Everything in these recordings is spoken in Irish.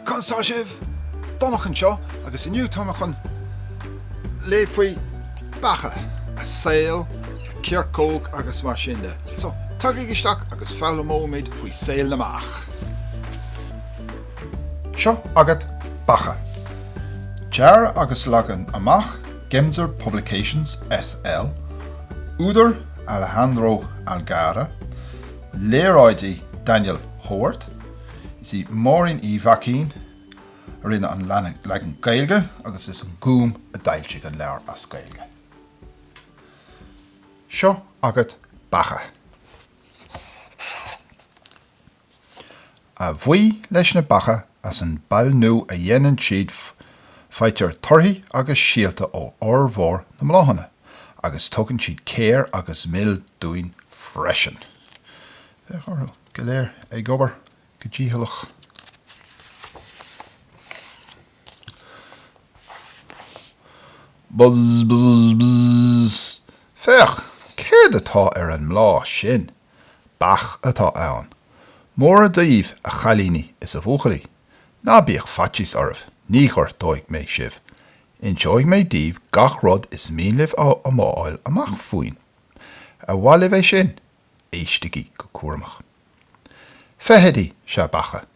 Cad tá sibh? Donncha anseo agus inniu tá mé chun léamh faoi beacha, a saol, a coirceog agus mar sin de. So tagaigí isteach agus foghlaimeoimid faoi saol na mbeach. Seo agat beacha! Dearadh agus leagan amach, Gemser Publications SL, Údar, Alejandro Algarra, Léaráidí, Daniel Howarth, Is í Máirín Uí Mhaicín a rinne an leagan Gaeilge agus is an Gúm a d'fhoilsigh an leabhar as Gaeilge. Seo agat beacha! A bhuí leis na beacha as an bpailniú a dhéanann siad faightear torthaí agus síolta ó fhormhór na mbláthanna agus tugann siad céir agus mil dúinn freisin. Féach orthu go léir ag obair go dícheallach. Buzz buzz buzz! Féach! Céard atá ar an mbláth sin? Beach atá ann. Móra daoibh a chailíní is a bhuachaillí. Ná bíodh faitíos oraibh, ní ghortóidh mé sibh. Inseoidh mé daoibh gach rud is mian libh a fháil amach fúinn. Ar mhaith libh é sin? Éistigí go cúramach. Feithidí is ea beacha,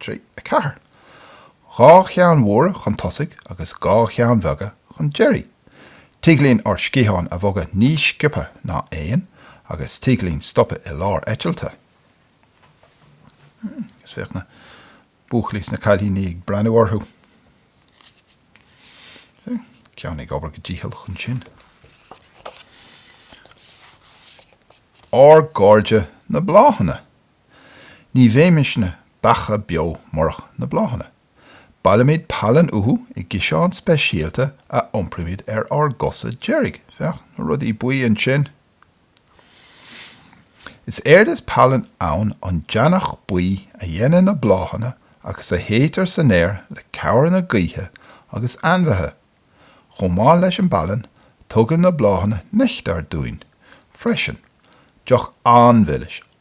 trí, a ceathair. Dhá cheann mhóra chun tosaigh agus dhá cheann bheaga chun deiridh. Tig linn ár sciatháin a bhogadh níos sciobtha ná éin agus tig linn stopadh i lár eitilte. Hmm, agus féach na buachaillí is na cailíní ag breathnú orthu. Ceann ag obair go dícheallach ansin. Ár gcairde na bláthanna. Ní bheimisne beacha beo murach na bláthanna. Bailímid pailin uathu i gciseán speisialta a iompraímid ar ár gcosa deiridh. Féach na rudaí buí ansin. Is éard is pailin ann an deannach buí a dhéanann na bláthanna agus a shéidtear san aer le cabhair na gaoithe agus ainmhithe. Chomh maith leis an bpailin, tugann na bláthanna neachtar dúinn freisin, deoch an-mhilis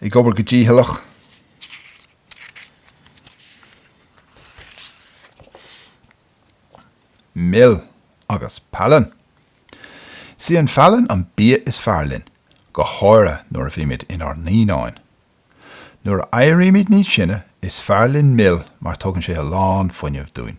ag obair go dícheallach. Mil agus pailin. Is í an phailin an bia is fearr linn, go háirithe nuair a bhímid inár naíonáin. Nuair a éirímid níos sine, is fearr linn mil mar tugann sé a lán fuinnimh dúinn.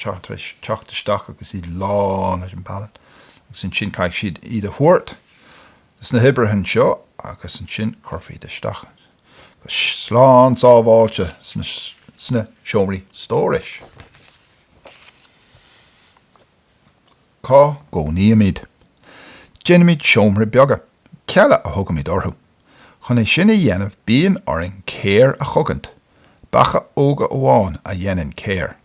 Tar éis teacht isteach agus iad lán leis an bpailin agus ansin caithfidh siad iad a thabhairt dos na hoibrithe anseo agus ansin cuirfear iad isteach go slán sábháilte sna seomraí stórais. Cá gcónaímid? Déanaimid seomrai beaga, cealla a thugaimid orthu, Chun é sin a dhéanamh bíonn orainn céir a chogaint, beacha óga amháin a dheineann céir.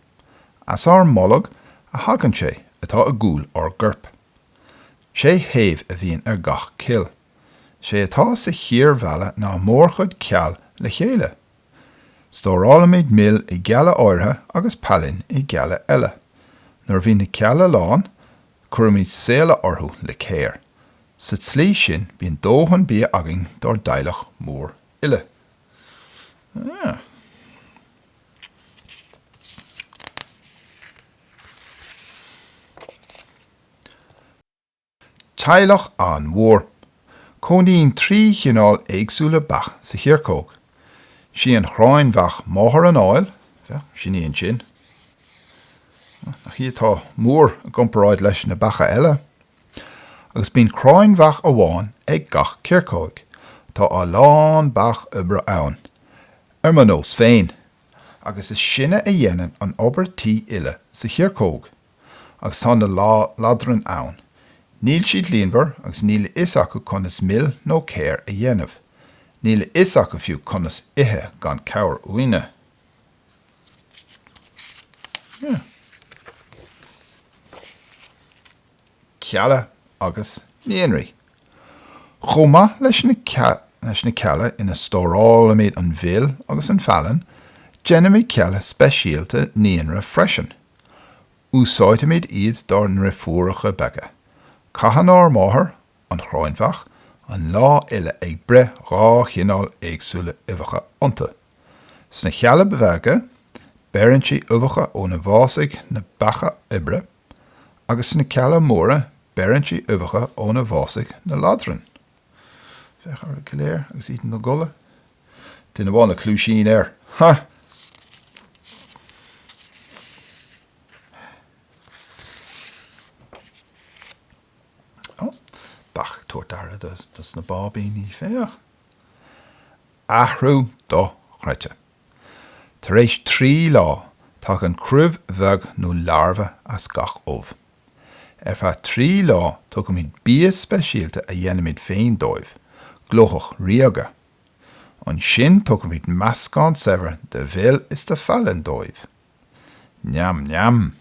As ár mbolg a thagann sé atá i gcúl ár gcoirp. Sé thaobh a bhíonn ar gach cill. Sé atá sa chíor mheala ná mórchuid ceall le chéile. Stórálaimid mil i gcealla áirithe agus pailin i gcealla eile. Nuair a bhíonn na cealla lán, cuirimid séala orthu le céir. Sa tslí sin bíonn dóthain bia againn dár dteaghlach mór uile. Teaghlach an-mhór. Cónaíonn trí chineál éagsúla beach sa choirceog. Sí an chráinbheach máthair an áil, sin í ansin. Nach í atá mór i gcomparáid leis na beacha eile. Agus bíonn cráinbheach amháin ag gach coirceog. Tá a lán beach oibre ann, ar mo nós féin, agus is sinne a dhéanann an obair tí uile sa choirceog. agus tá na ladrainn ann. Níl siad líonmhar agus níl a fhios acu conas mil nó céir a dhéanamh. Níl a fhios acu fiú conas ithe gan cabhair uainne. Cealla agus Naíonraí. Chomh maith leis na cealla ina stórálaimid an mhil agus an phailin, déanaimid cealla speisialta naíonra freisin. Úsáidimid iad dár ndreifiúracha beaga. Caitheann ár máthair, an chráinbheach, an lá uile ag breith dhá chineál éagsúla uibheacha iontu. Sna Chealla Beaga beireann sí uibheacha óna bhfásfaidh na beacha oibre agus sna Cealla Móra beireann sí uibheacha óna bhfásfaidh na ladrainn. Féach orthu go léir agus iad ina gcodladh. Duine amháin na cluaisíní air, ha! Beach ag tabhairt aire dos na báibíní, féach! Athrú dochreidte! Tar éis trí lá, tagann cruimh bheag nó larbha as gach ubh. Ar feadh trí lá tugaimid bia speisialta a dhéanaimid féin dóibh, glóthach ríoga. Ansin tugaimid meascán saibhir de mhil is de phailin dóibh. Neam neam!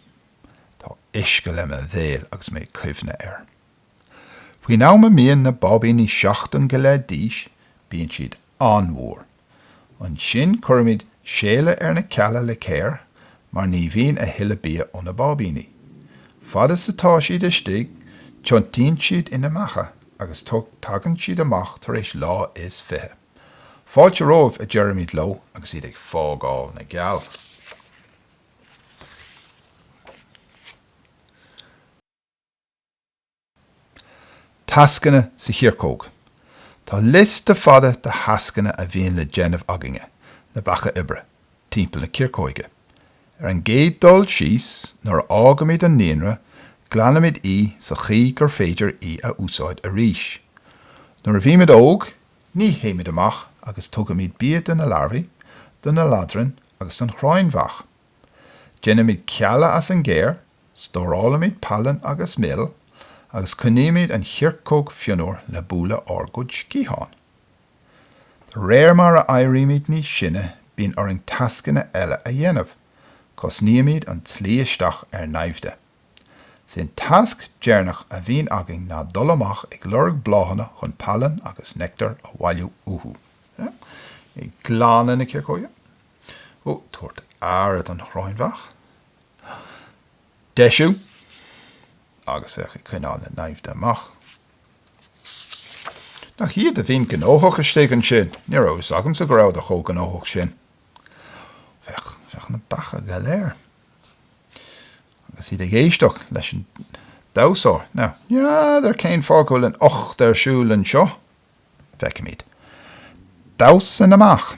Tá uisce le mo bhéal agus mé ag cuimhneamh air. Faoin am a mbíonn na báibíní seachtain go leith d'aois bíonn siad an-mhór. Ansin cuirimid séala ar na cealla le céir mar ní bhíonn a thuilleadh bia ó na báibíní. Fad is atá siad istigh tiontaíonn siad ina mbeacha agus tagann siad amach tar éis lá is fiche. Fáilte romhaibh, a deirimid leo agus iad ag fágáil na gceall. Tascanna sa Choirceog Tá liosta fada de thascanna a bhíonn le déanamh againne, na beacha oibre, timpeall na coirceoige. Ar an gcéad dul síos, nuair a fhágaimid an nithlann, glanaimid í sa chaoi gur féidir í a úsáid arís. Nuair a bhímid óg, ní théimid amach agus tugaimid bia do na larbhaí, do na ladrainn agus don chráinbheach. Déanaimid cealla as an gcéir, stórálaimid pailin agus mil, agus coinnímid an choirceog fionnuar le bualadh ár gcuid sciathán. De réir mar a éirímid níos sine bíonn orainn tascanna eile a dhéanamh. Cosnaímid an tslí isteach ar naimhde. Sén tasc deirneach a bhíonn againn ná dul amach ag lorg bláthanna chun pailin agus neachtar a bhailiú uathu. Ag glanadh na coirceoige. Ag tabhairt aire don chráinbheach. Ag deisiú. Agus bheith ag coinneáil na naimhde amach. Nach iad a bhíonn gnóthach istigh ansin. Ní raibh fhios agamsa go rabhadar chomh gnóthach sin. Féach, féach na beacha go léir. Agus iad ag éisteacht leis an damhsóir. Now, n'fheadar cén fáth go bhfuil an 8 ar siúl anseo. Feicimid damhsa an mheach.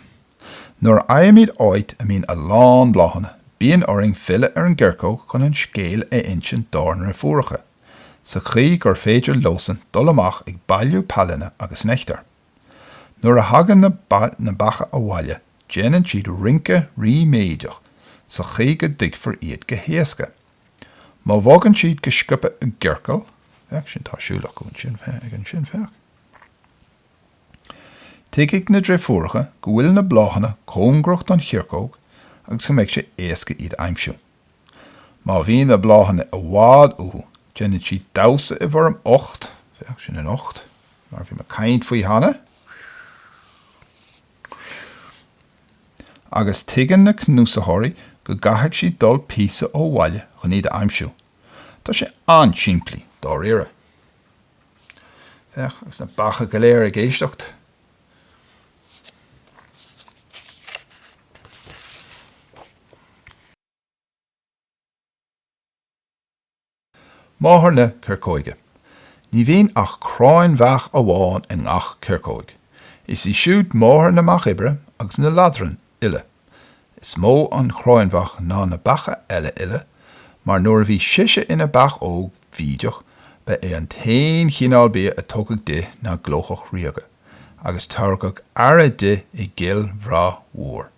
Nuair a aimsímid áit a mbíonn a lán bláthanna, bíonn orainn filleadh ar an gcoirceog chun an scéal a insint dár ndeirfiúracha, sa chaoi gur féidir leosan dul amach ag bailiú pailine agus neachtair. Nuair a thagann na beacha abhaile, déanann siad rince ríméideach sa chaoi go dtuigfear iad go héasca. Má bhogann siad go sciobtha i gciorcal, féach ansin, tá siúl acu ansin, féach ansin, féach. Tuigfidh na deirfiúracha go bhfuil na bláthanna cóngarach don choirceog agus go mbeidh sé éasca iad a aimsiú. Má bhíonn na bláthanna i bhfad uathu déanann siad damhsa i bhfoirm 8, féach, sin an 8 mar a bhí mé ag caint faoi cheana, agus tuigeann na cnuasaitheoirí go gcaithfidh siad dul píosa ó bhaile chun iad a aimsiú. Tá sé an-simplí, dáiríre. Féach, agus na beacha go léir ag éisteacht. Máthair na Coirceoige. Ní bhíonn ach cráin bheach amháin i ngach coirceoig. Is í siúd máthair na mbeach oibre agus na ladrann uile. Is mó an chráinbheach ná na beacha eile uile, mar nuair a bhí sise ina beach óg bhídeach ba é an t-aon chineál bia a tugadh di ná glóthach ríoga, agus tugadh aire di i gcill bhreá mhór.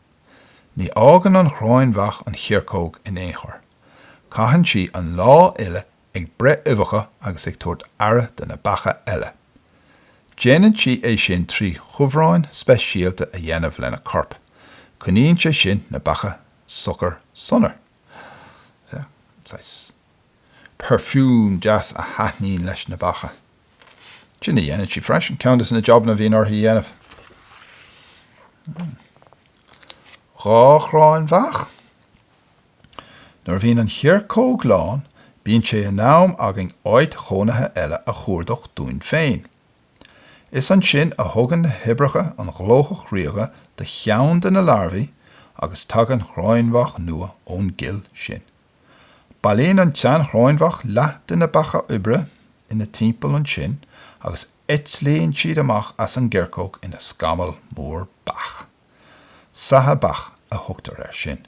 Ní fhágann an chráinbheach an choirceog in aon chor. Caitheann sí an lá uile ag breith uibheacha agus ag tabhairt aire do na beacha eile. Déanann sí é sin trí chumhráin speisialta a dhéanamh lena corp. Coinníonn sé sin na beacha socair sona. Saghas perfume deas a thaitníonn leis na beacha. Sin a dhéanann sí freisin, ceann dos na jabanna a bhíonn uirthi a dhéanamh. Dhá chráin bheach. Nuair a bhíonn an choirceog lán bíonn sé in am againn áit chónaithe eile a chuardach dúinn féin. Is ansin a thugann na hoibreacha an ghlóthach ríoga do cheann de na larbhaí agus tagann chráinbheach nua ón gcill sin. Bailíonn an tseanchráinbheach leath de na beacha oibre ina timpeall ansin agus eitlíonn siad amach as an gcoirceog ina scamall mór beach. Saithe beach a thugtar air sin.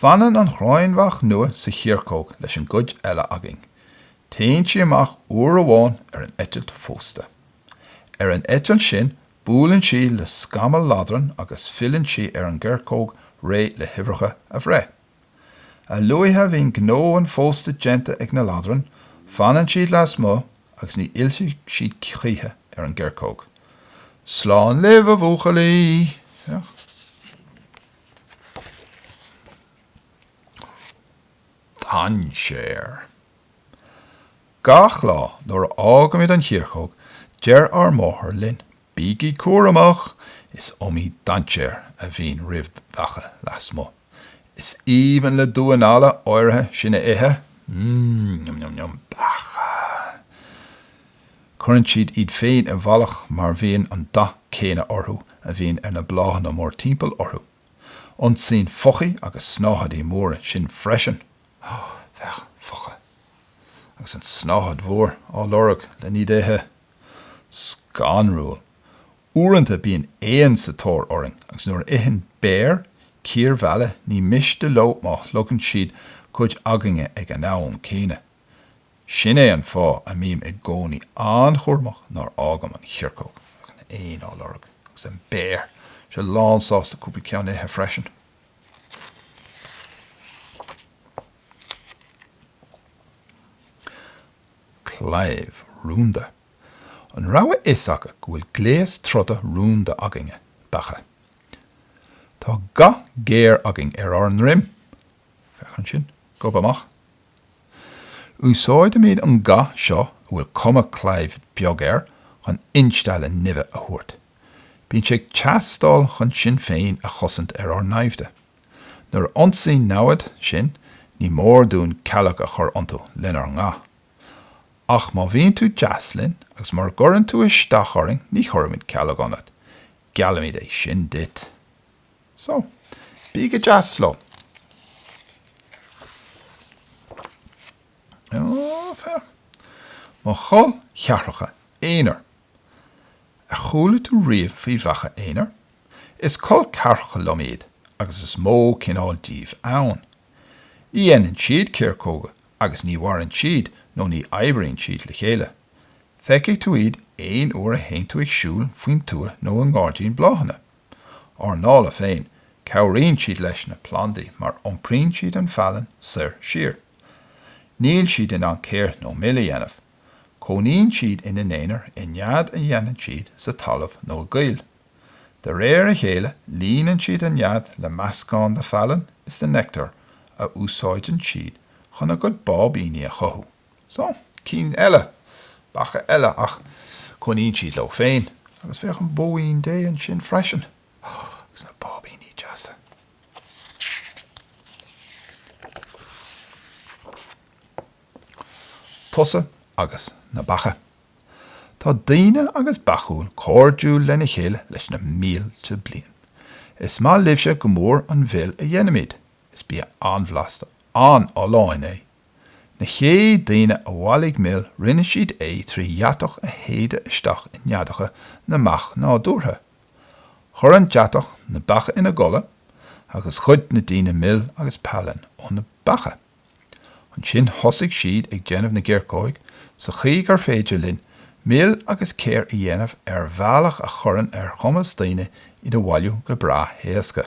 Fanann an chráinbheach nua sa choirceog leis an gcuid eile againn. Téann sí amach uair amháin ar an eitilt phósta. Ar an eitilt sin buaileann sí le scamall ladrann agus filleann sí ar an gcoirceog réidh le huibheacha a bhreith. A luaithe a bhíonn gnó an phósta déanta ag na ladrainn, fanann siad lasmuigh agus ní fhillfidh siad choíche ar an gcoirceog. Slán libh a bhuachaillí! dainséar. Gach lá nuair a fhágaimid an choirceog, deir ár máthair linn, 'Bígí cúramach, is iomaí dainséar a bhíonn roimh bheacha lasmuigh. Is aoibhinn le damháin alla áirithe sinn a ithe. Mmm, yum yum yum, beacha. Cuireann siad iad féin i bhfalach mar bhíonn an dath céanna orthu a bhíonn ar na bláthanna mórtimpeall orthu. Ionsaíonn foichí agus snáthaidí móra sinn freisin. Bheadh foiche agus an tsnáthaid mhór á lorg len iad a ithe. Scanrúil. Uaireanta bíonn éan sa tóir orainn agus nuair a itheann béir cíor mheala ní miste leo má shlogann siad cuid againne ag an am céanna. Sin é an fáth a mbím i gcónaí an-chúramach nár fhágaim an choirceog. An éin á lorg. Agus an béar! sé lánsásta cúpla ceann a ithe freisin. Claíomh rúnda. An raibh a fhios agat go bhfuil gléas troda rúnda againne, beacha? Tá ga géar againn ar ár ndroim. Féach ansin. Gob amach Úsáidimid an ga seo a bhfuil cuma claímh beag air chun instealladh nimhe a thabhairt. Bíonn sé ag teastáil chun sinn féin a chosaint ar ár naimhde. Nuair a ionsaíonn namhaid sinn ní mór dúinn cealg a chur iontu lenár nga. Ach má bhíonn tú deas linn agus mura gcuireann tú isteach orainn ní chuirimid cealg ionat. Geallaimid é sin duit. So, bí go deas leo. Oh, fair. Mo chol cheathracha aonair. Ar chuala tú riamh faoi bheacha aonair? Is col ceathracha liom iad agus is iomaí cineál díobh ann. Ní dhéanann siad coirceoga agus ní mhaireann siad nó ní oibríonn siad le chéile. Feicfidh tú iad aon uair a théann tú ag siúl faoin tuath nó i ngairdín bláthanna. Ár ndála féin, cabhraíonn siad leis na plandaí mar iompraíonn siad an phailin soir siar. Níl siad in ann céir nó mil a dhéanamh. Cónaíonn siad ina n-aonar i nead a dhéanann siad sa talamh nó i gcoill. De réir a chéile líonann siad an nead le meascán de phailin is de neictear a úsáideann siad chun a gcuid báibíní a chothú. So, cinn eile, beacha eile, ach cónaíonn siad leo féin. Agus féach an bhóín Dé ansin freisin. Agus na báibíní deasa. Tusa agus na beacha. Tá daoine agus beacha cairdiúil lena chéile leis na mílte bliain. Is maith libhse go mór an mhil a dhéanaimid. Is bia an-bhlasta, an-fholláin é. Na chéad daoine a bhailigh mil rinne siad é trí dheatach a shéideadh isteach i neadacha na mbeach nádúrtha. Chuir an deatach na beacha ina gcodladh agus ghoid na daoine mil agus pailin ó na beacha. Ansin thosaigh siad ag déanamh na gcoirceog sa chaoi gur féidir linn mil agus céir a dhéanamh ar bhealach a chuireann ar chumas daoine iad a bhailiú go breá héasca.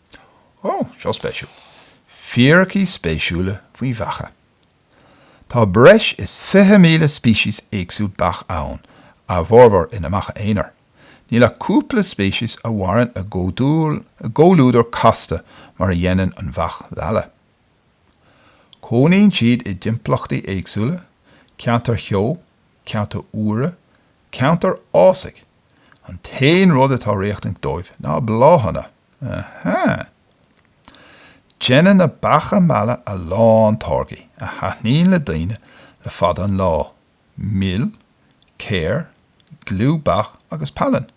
Ó, seo spéisiúil. Fíricí spéisiúla faoi bheacha. Tá breis is 20,000 speiceas éagsúil beach ann, a bhformhór ina mbeacha aonair. Níl ach cúpla speiceas a mhaireann i gcomhluadar casta mar a dhéanann an bheach mheala. Cónaíonn siad i dtimpeallachtaí éagsúla, ceantair theo, ceantair fhuara, ceantar fhásaigh, an t-aon rud atá riachtanach dóibh ná bláthanna. Aha! Déanann na beacha meala a lán táirgí a thaitníonn le daoine le fada an lá, mil, céir, gliú beach agus pailin.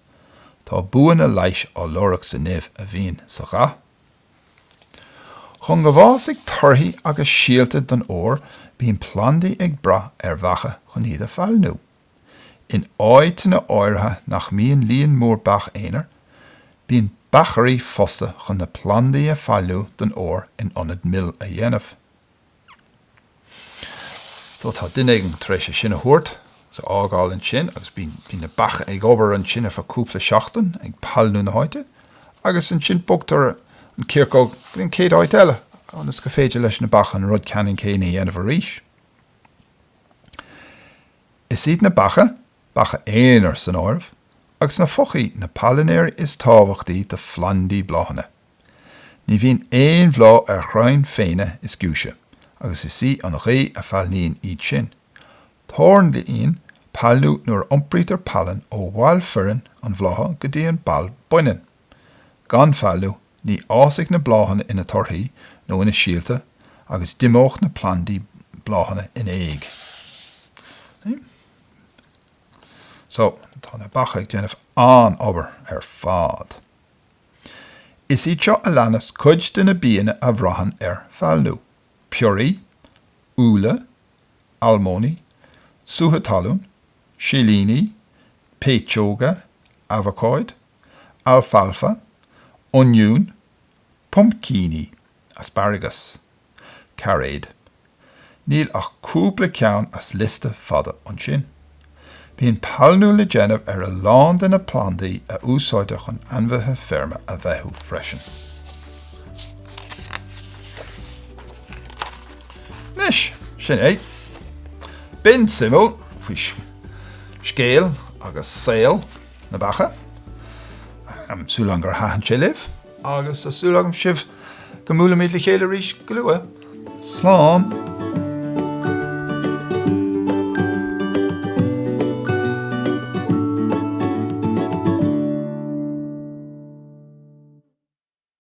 Tá buanna leighis á lorg sa nimh a bhíonn sa gha. Chun go bhfásfadh torthaí agus síolta don fhómhar bíonn plandaí ag brath ar bheacha chun iad a phailniú. In áíteanna áirithe nach mbíonn líon mór beach aonair, bíonn beachairí fostaithe chun na plandaí a phailniú don fhómhair in ionad mil a dhéanamh. So tá duine éigin tar éis é sin a thabhairt agus a fhágáil ansin agus bíonn na beacha ag obair ansin ar feadh cúpla seachtain ag pailniú na háite agus ansin bogtar an choirceog go dtí an chéad áit eile ionas gur féidir leis na beacha an rud ceannann céanna a dhéanamh arís. Is iad na beacha, beacha aonair san áireamh, agus na foichí na pailinéirí is tábhachtaí do phlandaí bláthanna. Ní bhíonn aon bhláth ar chrainn phéine is giúise, agus is í an ghaoth a phailníonn iad sin. Tarlaíonn pailniú nuair a iompraítear pailin ó bhall fireann an bhlátha go dtí an ball baineann. Gan phailniú, ní fhásfadh na bláthanna ina torthaí ná ina síolta agus d'imeodh na plandaí bláthanna in éag. So, tá na beacha ag déanamh an-obair ar fad. Is iad seo a leanas cuid de na bianna a bhraitheann ar phailniú, piorraí, úlla, almóinní, sútha talún, silíní, péitseoga, abhacáid, alfalfa, oinniúin, puimcíní, asparagus, cairéid, níl ach cúpla ceann as liosta fada ansin. Bíonn pailniú le déanamh ar a lán de na plandaí a úsáidtear chun ainmhithe feirme a bheathú freisin. Anois, sin é. B'in suimiúil faoi scéal agus saol. na mbeacha. Tá súil agam gur thaitin sé libh. Agus tá súil agam sibh go mbuailfimid le chéile arís go luath. Slán.